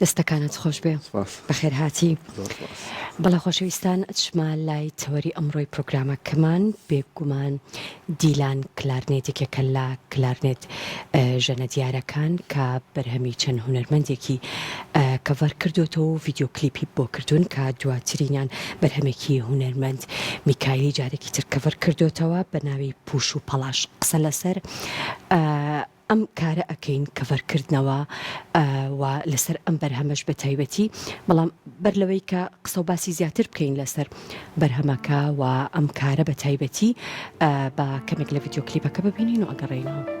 دەستەکانت خۆشبێ سپاس بەخێرهاتی زۆر سپاس بەڵێ خۆشەویستان ئەچمە لای تەوەری ئەمڕۆی پرۆگرامەکەمان بێگومان دیلان کلارنێت یەکێکە لە کلارنێت اه، ژەنە دیارەکان کە بەرهەمی چەند هونەرمەندێکی اه، کەڤەر کردوێتەوە و ڤیدیۆ کلیپی بۆ کردوون کە دواترینیان بەرهەمێکی هونەرمەند میکایلی جارێکی تر کەڤەر کردوێتەوە بە ناوی پوش و پەڵاش قسە لەسەر اه، ئەم کارە ئەکەین کەڤەر کردنەوە و لەسەر ئەم بەرهەمەش بە تایبەتی بەڵام بەر لەوەی کە قسە و باسی زیاتر بکەین لەسەر بەرهەمەکە و ئەم کارە بە تایبەتی بە کەمێک لە ڤیددیو کلیپەکە ببینین و ئەگەڕێینەوە.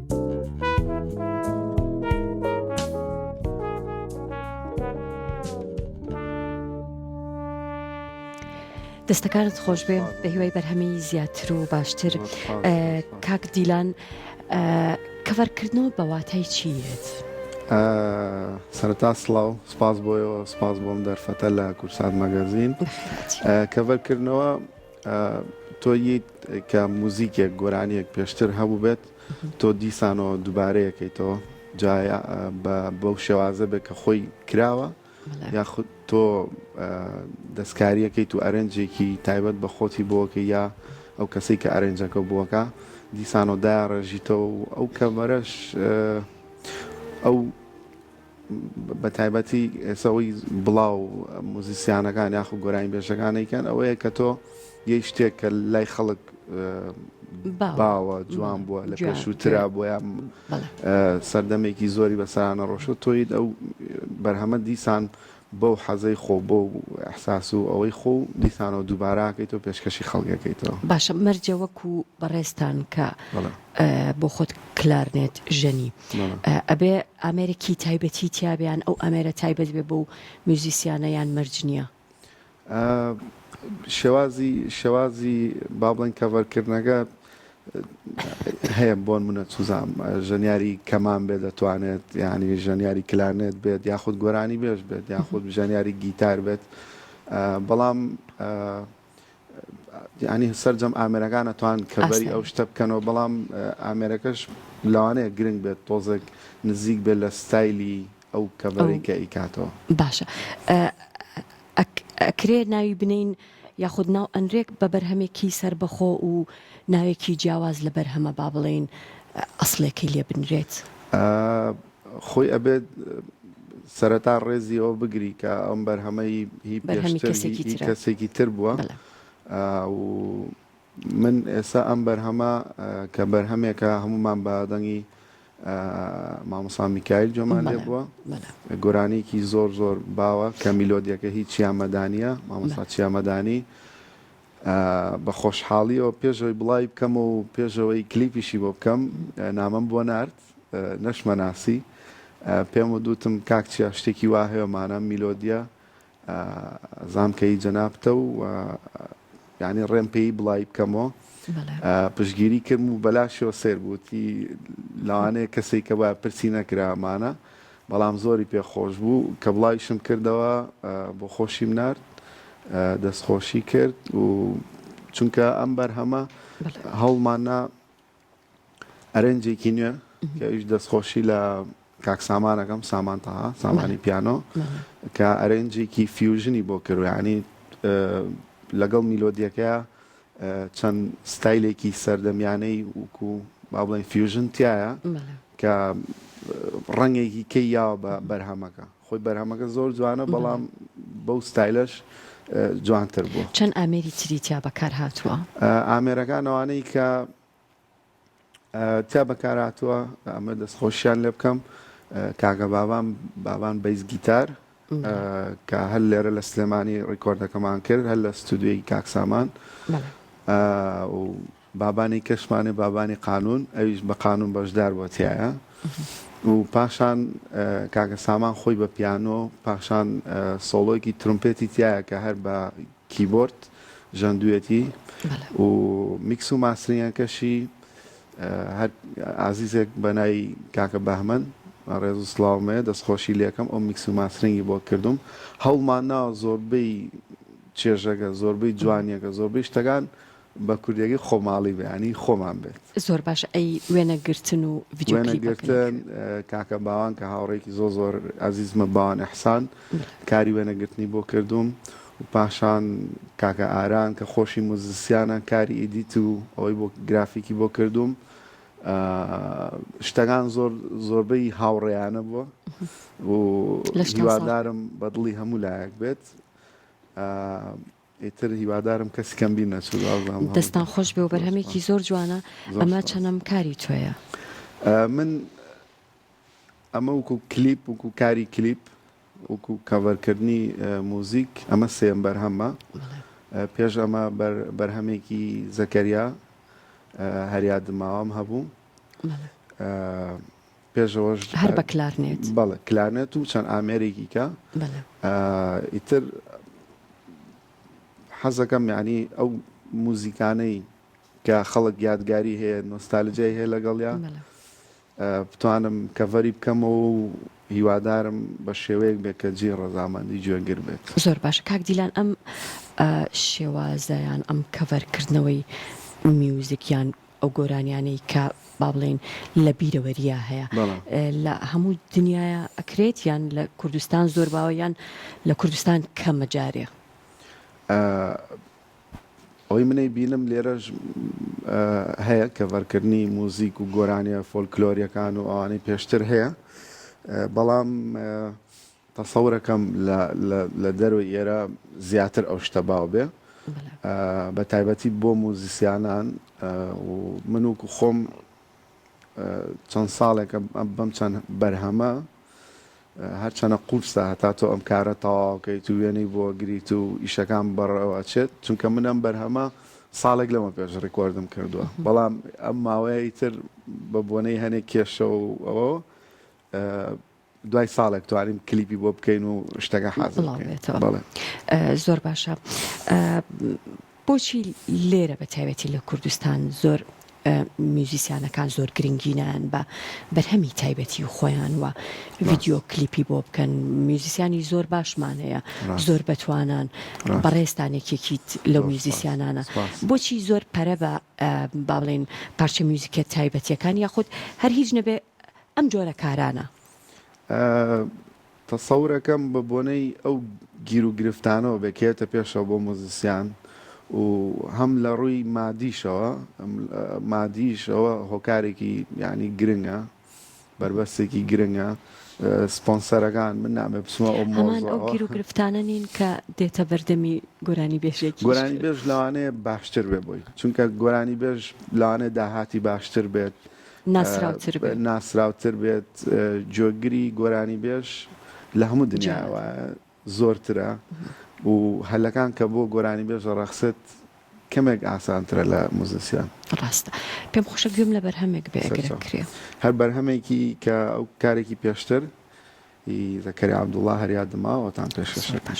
دەستەکانت خۆش بێ بە هیوای بەرهەمی زیاتر و باشتر کاک دیلان کەڤەرکردنەوە بەواتای چیت؟ سەرتا سلااو سپاس بۆیەوە سپاس بۆم دەرفەتە لە کورسات مەگەزین کەڤەرکردنەوە تۆ یت کە موزیکێک گۆرانیەک پێشتر هەبووبێت تۆ دیسانەوە دووبارەیەکەیتەوە جا بەو شێوازە بێت کە خۆی کراوە یاخود تۆ دەستکاریەکەیت و ئەرنجێکی تایبەت بە خۆتی بۆکە یا ئەو کەسێک کە ئەرنجەکە بووەکە دیسانەوە دایان ڕێژیتەوە و ئەو کەمەرەش ئەو بە تایبەتی سەوەی بڵاو موزیسیانەکان یاخو گۆرانی بێژەکانێکیان ئەوەیە کە تۆ یەی شتێک کە لای خەڵک باوە جوان بووە لە پێشووترا بۆە سەردەمێکی زۆری بەسانە ڕۆشت تۆیت ئەو بەرهەمە دیسان بەو حەزەی خۆو بەو احساس و ئەوەی خۆو دیسانەوە دووبارە ئەکەیتەوە پێشکەشی خەڵک ئەکەیتەوە. باشە مەرجە وەکو بەڕێزتان کە بەڵێ. بۆ خۆت کلارنێت ژەنی بەڵێ. ئەبێ ئامێرێکی تایبەتی تیابێ یان ئەو ئامێرە تایبەت بێ بەو میوزیسیانە یان مەرج نیە؟ شێوازی شێوازی با بڵێن کەڤەر کردنەکە هەیە بۆن منە چزام ژەنیاری کەمان بێت دەتوانێت یعنی ژەنیاری کلارنێت بێت یاخود گۆرانی بێژ بێت یاخود ژەنیاری گیتار بێت بەڵام ینی سرجەم ئامرەکانە توان کەبەری ئەو شتە بکەنەوە بەڵام ئامێرەکەش لەوانەیە گرنگ بێت تۆزێک نزیک بێت لە ستایلی ئەو کەڤەرەی کە ئیکاتەوە. باشە ئەکرێ ناوی بنێین یاخود ناو ئەنرێک بە بەرهەمێکی سەربەخۆ و ناوێکی جیاواز لە بەرهەمە با بڵێین ئەسڵێکی لێ بنرێت؟ خۆی ئەبێت سەرەتا ڕێزی ئەوە بگری کە ئەم بەرهەمەی هی پێشتر هی کەسێکی تر بووە و من ئێستا ئەم بەرهەمە کە بەرهەمێکە هەموومان بە دەنگی مامۆسا میکایل جۆمان لێ بووە گۆرانیکی زۆر زۆر باوە کە میلۆدیەکە هیچ چیامەدانە مامۆسا چیامەدانی بە خۆشحاڵیەوە پێشەوەی بڵای بکەم و پێشەوەی کلیپیشی بۆ بکەم نامەم بۆ نرد نەشمەناسی پێم و دووتم کاک چیا شتێکی واهەیەمانە میلۆدیە زام کە ی جەنابتە و یانی ڕێم پێ ی بڵاوی بکەمۆ پشگیری کردم و بەلاشەوە سەیر بووتی لەوانەیە کەسێک کە با پرسی نەکرامانە بەڵام زۆری پێ خۆش بوو کە بڵاویشم کردەوە بۆ خۆشیم نرد دەستخۆشی کرد و چونکە ئەم بەرهەمە هەوڵماننا ئەرێنجێکی نوێ کە ئەویش دەستخۆشی لە کاک سامان ئەکەم سامان تەها سامانی پیانۆ کە ئەرێنجێکی فیوژنی بۆ کرد یعنی لەگەڵ میلۆدیەکە چەند ستایلێکی سەردەمیانەی وکو با بڵێن فیوژن تایە کە ڕەنگێکی کەی یاوە بە بەرهەمەکە خۆی بەرهەمەکە زۆر جوانە بەڵام بەو ستایلەش جوانتر بووە. چەند ئامێری تری تیا بەکار هاتووە؟ ئامێرەکان ئەوانەی کە تیا بەکار هاتووە ئەمە دەست خۆشیان لێ بکەم کاکە بابان بابان بەیس گیتار کە هەر لێرە لە سلێمانی ڕیکۆردەکەمان کرد هەر لە ستودیۆی کاک سامان و بابانی کەشمانێ بابانی قانوون ئەویش بە قانوون بەشدار بووە تیایا و پاشان کاکە سامان خۆی بە پیانۆ پاشان سۆڵۆیکی ترومپێتی تایە کە هەر بە کیبۆرد ژەندویەتی و میکس و ماسرینەکەشی هەر ئازیزێک بەنای کاکە بەهمەن ڕێز و سلااومەیە دەستخۆشی لەکەم ئەو میکس و ماسرنگی بۆ کردم هەڵمان ناوە زۆربەی چێژەکە زۆربەی جوانیەکە زۆربەی شتەکان بە کوردیەکەی خۆماڵی بەیانی خۆمان بێت زۆر باش ئەی وێنە گرتن و وێنە گرتن کاکە باوان کە هاوڕێکی زۆ زۆر ئازیزمە باوان ئەحسان کاری وێنەگرتنی بۆ کردوم و پاشان کاکە ئاران کە خۆشی موزسیانە کاری ئیدیت و ئەوەی بۆ گرافیکی بۆ کردوم شتەکان زۆر زۆربەی هاوڕێیانە بووە و هیوادارم بەدڵی هەموو لایەک بێت ئیتر هیوادارم کەسی کەم بیر نەچوو بازنامە هەموو دەستان خۆش بێ و بەرهەمێکی زۆر جوانە زۆر ئەمە سوپاس. چەنەم کاری تۆیە. من ئەمە وکو کلیپ وکو کاری کلیپ وکو کەڤەر کردنی موزیک ئەمە سێیەم بەرهەممە بەڵێ. پێش ئەمە بەر بەرهەمێکی زەکەریا هەریا دماوەم هەبوو بەڵێ. پێشەوەش هەر بە کلارنێت. بەڵێ کلارنێت و چەند ئامێرێکی کە بەڵێ ئیتر حەزەکەم یعنی ئەو موزیکانەی کە خەڵک یادگاری هەیە نۆستالجای هەیە لەگەڵیا بتوانم کەڤەری بکەمەوە و هیوادارم بە شێوەیەک بێت کە جێ ڕەزامەندی جوێنگر بێت زۆر باشە کاک دیلان ئەم شێوازەیان ئەم کەڤەرکردنەوەی میوزیکیان ئەو گۆرانیانەی کە با بڵێین لە بیرەوەرییا هەیە لە هەموو دنیاە ئەکرێت یان لە کوردستان زۆر باوە یان لە کوردستان کەمە جارێ ئەوەی منەی بینم لێرەش هەیە کەڤەرکردنی موزیک و گۆرانیە فۆلکلۆریەکان و ئەوانەی پێشتر هەیە بەڵام تەسەورەکەم لە لە دەرەوەی ئێرە زیاتر ئەو شتە باو بێ بە تایبەتی بۆ موزیسیانان و من و خۆم چەند ساڵێکە بەم چەند بەرهەمە هەرچەنە قورسە هەتا تۆ ئەم کارە تەواوکەیت و وێنەی بۆ گریت و ئیشەکان بەڕەوە چێت چونکە من ئەم بەرهەمە ساڵێک لەمە پێش ڕیکۆردم کردووە بەڵام ئەم ماوەیە ئیتر بە بۆنەی هەنێک کێشە و ئەوە دوای ساڵێک توانیم کلیپی بۆ بکەین و شتەکە حازڵێتەوە زۆر باشە بۆچی لێرە بە تایبەتی لە کوردستان زۆر میوزیسیانەکان زۆر گرنگینیان بە بەرهەمی تایبەتی و خۆیان وە ڤیددیو کلیپی بۆ بکەن میوزیسیانی زۆر باشمان هەیە زۆر بەتوانان بەڕێستانێکێکیت لەو میوزیسیانانە بۆچی زۆر پەرە بە باڵێن پارچە میوزیکە تایبەتیەکان یاخود هەر هیچ نەبێ ئەم جۆرە کارانە. تەسەورەکەم بە بۆنەی ئەو گیر و گرفتانەوە بێکێتە پێشەوە بۆ موزیسیان و هەم لە ڕووی مادیشەوە مادیش ئەوە هۆکارێکی یعنی گرنگە بەربەستێکی گرنگە سپۆنسەرەکان من نامێ بچمە ئەو هەمان ئەو گیر و مۆزەوە گرفتانە نین کە دێتە بەردەمی گۆرانی بێژێکیش. گۆرانی بێژ لەوانەیە باشتر بێ بۆی چونکە گۆرانی بێژ لەوانەیە داهاتی باشتر بێت ناسراوتر بێت. ناسراوتر بێت گوێگری گۆرانیبێژ لە هەموو دنیاوە زۆرترە و هەلەکان کە بۆ گۆرانیبێژ دەڕەخسێت کەمێک ئاسانترە لە موزیسیان. ڕاستە پێم خۆشە گوێم لە بەرهەمێک بێ ئەگەر بکرێ. هەر بەرهەمێکی کە ئەو کارێکی پێشتر ی زەکەریا عەبدوڵا هەر یادم ماوە ئەوتان پێشکەش ئەکەم.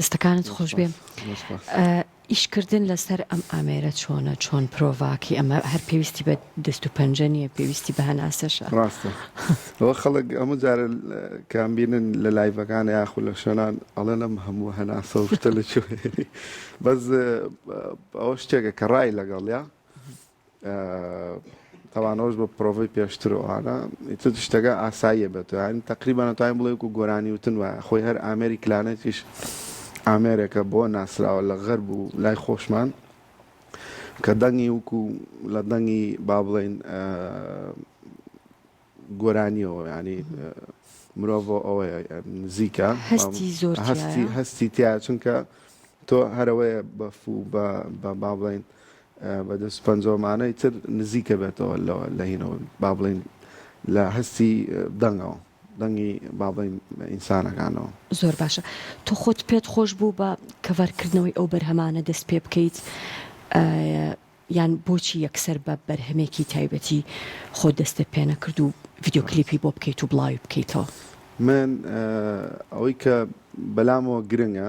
دەستەکانت خۆش بێ ئیشکردن لەسەر ئەم ئامێرە چۆنە چۆن پرۆڤاکی ئەمە هەر پێویستی بە دەست و پەنجە نیە پێویستی بە هەناسەشە. ڕاستە ئەوە خەڵک هەموو جارە کام بینن لە لایڤەکان یاخو لە شوێنان ئەڵێن ئەم هەموو هەناسە و شتە لە چۆ بەس ئەوە شتێکە کە ڕای لەگەڵ یا تەوانەوەش بە پرۆڤی پێشتر و ئانا ئیتر شتەکە ئاساییە بێت یان تقریبان توانین بڵێ و گۆرانی وتن وایە خۆی هەر ئامێری کلانێتیش ئامێرێکە بۆ ناسراوە لە غەرب و لای خۆشمان کە دەنگی وەکو لە دەنگی با بڵێین گۆرانیەوە ینی مرۆڤ ئەوەیە نزیکە هەستی زۆر هەستی هەستی تیا چونکە تۆ هەرەوەیە بەفو بە با بڵین بە دەست پەنجۆمانەی تر نزیکە بێتەوە لەوە لە هینەوە با بڵین لە هەستی دەنگەوە دەنگی بابەی ئینسانەکانەوە. زۆر باشە تۆ خۆت پێت خۆش بوو بە کەڤەر کردنەوەی ئەو بەرهەمانە دەست پێ بکەیت یان بۆچی یەکسەر بە بەرهەمێکی تایبەتی خۆت دەستت پێ نەکرد و ڤیدیۆ کلیپی بۆ بکەیت و بڵاوی بکەیتەوە؟ من ئەوەی کە بەلامەوە گرنگە.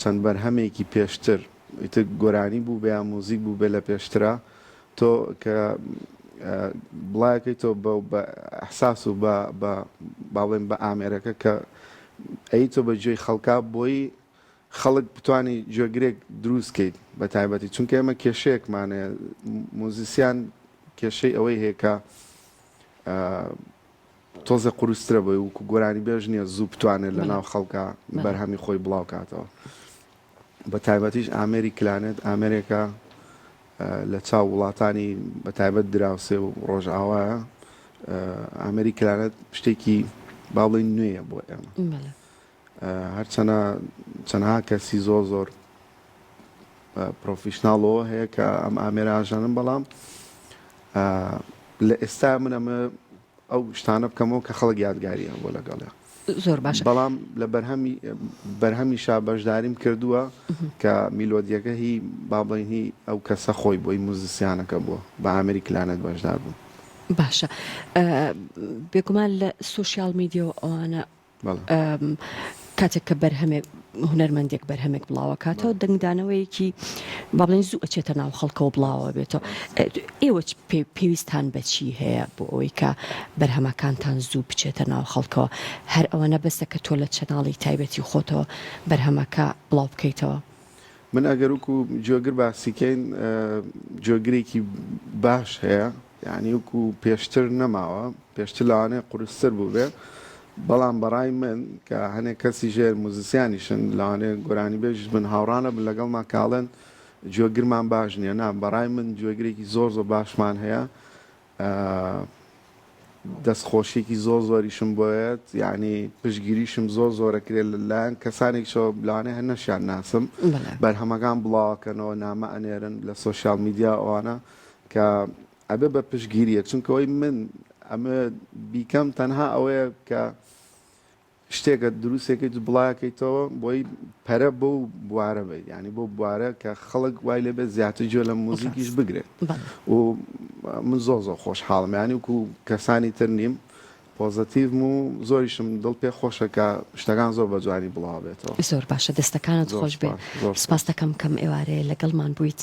چەند بەرهەمێکی پێشتر ئیتر گۆرانی بوو بێ یا موزیک بوو بێ لە پێشترا تۆ کە بڵایەکەی تۆ بە بە ئەحساس و بە بە باڵێن بە ئامێرەکە کە ئەی تۆ بە جێی خەڵکا بۆی خەڵک بتانی جۆگرێک دروستکەیت بە تایبەتی چونکە ئێمە کێشەیەکمانە موزیسیان کێشەی ئەوەی هەیە کە تۆزێ قورسترە بۆی وکو گۆرانی بێژ نیە زوو بتوانێت لە ناو خەڵکە بەرهەمی خۆی بڵاو کاتەوە بە تایبەتیش ئامێری کلانێت ئامێرێکە لە چاو وڵاتانی بە تایبەت دراوسێ و ڕۆژئاوایە ئامێری کلانێت شتێکی باڵی نوێیە بۆ ئێمە هەرچەنە چەنها کەسی زۆر زۆر پرۆفیشناڵەوە هەیە کە ئەم ئامێرە ئاژانن بەڵام لە ئێستا من ئەمە ئەو شتانە بکەمەوە کە خەڵک یادگاریە بۆ لەگەڵە زۆر باش بەڵام لە بەرهەمی بەرهەمی شا بەشداریم کردووە کە میلۆدیەکە هی بابڵینی ئەو کەسە خۆی بۆی موزیسیانەکە بووە بە ئامری کلانەت بەشدار بوو باشە بێگومان لە سوسیال میدیەوە ئەوانە کاتێک کە بەرهەمێک هونەرمەندێک بەرهەمێک بڵاوەکاتەوە دەنگدانەوەیەکی با بڵێن زوو ئەچێتە ناو خەڵکەوە بڵاوە بێتەوە ئێوە پێویستان بەچی هەیە بۆ ئەوەی کە بەرهەمەکانتان زوو بچێتە ناو خەڵکەوە هەر ئەوەنە بەسە کە تۆ لە چەناڵی تایبەتی خۆتەوە بەرهەمەکە بڵاو بکەیتەوە من ئەگەر وکو جۆگر باسیکەین جۆگرێکی باش هەیە. یانی وەکو پێشتر نەماوە پێشتر لەوانەیە قورستر بووبێ بەڵام بەڕای من کە هەنێک کەسی ژێر موزیسیانیشن لەوانێ گۆرانی بێژ بن هاوڕانە بن لەگەڵ ماکاڵێن گوێگرمان باش نییە نا بەڕای من گوێگرێکی زۆر زۆر باشمان هەیە دەستخۆشیێکی زۆر زۆریشم بۆیت یعنی پشگیریشم زۆر زۆرەکرێت لەلایەن کەسانێک شەوە بلانێ هەر نەشیان ناسم بەرهەمەکان بڵاوکەنەوە نامە ئەنێرن لە سوۆسیال میدیا ئەوانە کە ئەبێ بە پشتگیرییەک، چونکە وەی من ئەمە بیکەم تەنها ئەوەیە کە شتێکە دروستێکەی تو بڵاکەیتەوە بۆی پەرە بۆ و بوارە بێت یعنی بۆ بوارە کە خەڵک وای لێ بێت زیاتر جوێ لە موزیکیش بگرێت و من زۆر زۆر خۆش حاڵم ینی وکو کەسانی تر نیم پۆزەتیڤم و زۆریشم دڵ پێ خۆشە کە شتەکان زۆر بە جوانی بڵاوبێتەوە زۆر باشە دەستەکانت خۆش بێت سپاستەکەم کەم ئێوارەیە لەگەڵمان بوویت.